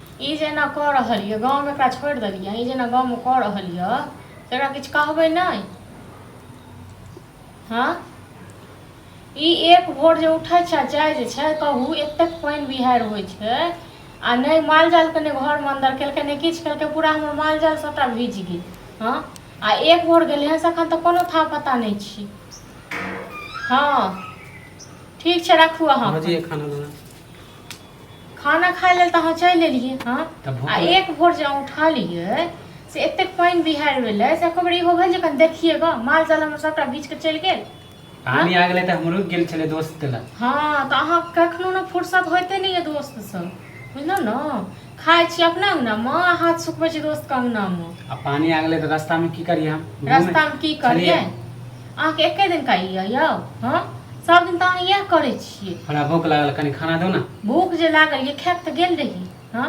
ई जे एना कऽ रहल यऽ गाँवमे एकरा छोड़ि देलियै ई जे एना गाँवमे कऽ रहल यऽ से एकरा किछु कहबै नहि हँ ई एक भोर जे उठै छै जाइ जे छै कहू एतेक पानि बिहारि होइ छै आ नहि मालजालके नहि घरमे अन्दर केलकै नहि किछु केलकै पूरा हमर मालजाल सभटा भीज गेल हँ आ एक भोर गेलै हँ से एखन तऽ कोनो था पता नहि छी हँ ठीक छै राखू अहाँ खाना खाना खाय लेल तऽ अहाँ चलि एलियै हँ तऽ भूख आ एक भोर जे अहाँ उठा लियै से एतेक पानि बिहारि भेलै से एको बेर इहो भेल जे कनि देखिए गऽ माल जाल हमर सभटा भीज कऽ चलि गेल पानी आ गेलै तऽ हमरो गेल छलै दोस्त के लग हँ तऽ अहाँ कखनो ने फुर्सत होइते नहि यऽ दोस्तसँ बुझलहुँ ने खाइ छी अपना अङ्गनामे आ हाथ सुखबै छी दोस्तके अङ्गनामे आ पानी आ गेलै तऽ रास्तामे की करियै हम घूमे- रास्तामे की करियै छलियै। अहाँके एके दिन कहि यऽ यौ हँ सब दिन तऽ अहाँ इएह करै छियै हमरा भूख लागल कनि खाना दो ना भूख जे लागल ये खायब तऽ गेल रही हँ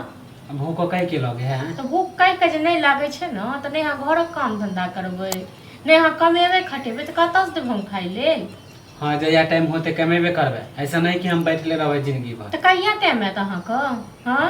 अब भूखो कह के लगे है तऽ भूख कहि कऽ जे नहि लागै छै ने तऽ नहि अहाँ घरक काम धंधा करबै नहि अहाँ कमेबै खटेबै तऽ कतऽसँ देबै हम खाइ लेल हाँ जहिया टाइम होते कमेबे करबे ऐसा नहीं कि हम बैठले रहबे जिंदगी भर तऽ कहिया टाइम आयत अहाँके हँ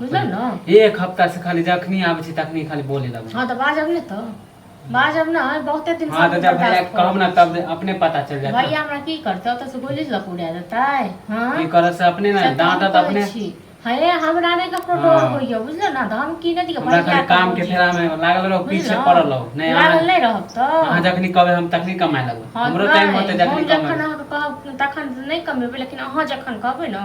बुझल ने एक हफ्ता से खाली जखनी आबै छी तखनी खाली बोले लगै हँ तऽ बाजब ने तऽ बाजब ने बहुते दिन हाँ तऽ जब भैया के कहब ना तब अपने पता चल जात भैया हमरा की करतै ओतऽ से गोली लऽ के उड़ा देतै हँ की करत से अपने ना से तऽ हम डांटत कहै अपने छी। हँ ए, हमरा नहि ककरो डर हाँ। होइए बुझल ने तऽ हम की नहि दियै हमरा खाली काम के फेरा में लागल रहो पीछे पड़ल रहो नहीं लागल अहाँ- नहि रहब तऽ अहाँ जखनी कहबै हम तखनी कमाए लगबै हँ, हमरो टाइम नहि, होतै जखनी हम जखन कमाए अहाँके कहब तखन नहि कमेबै लेकिन अहाँ जखन कहबै ने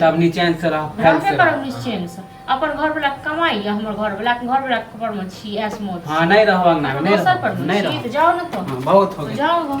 तब निचेन से रह फैल से रह निचेन से अपन घर वाला कमाई या हमर घर वाला घर वाला पर में छी एस मोड हां नहीं रहवा ना नहीं रहवा नहीं रहवा जाओ ना तो हाँ, बहुत हो गया जाओ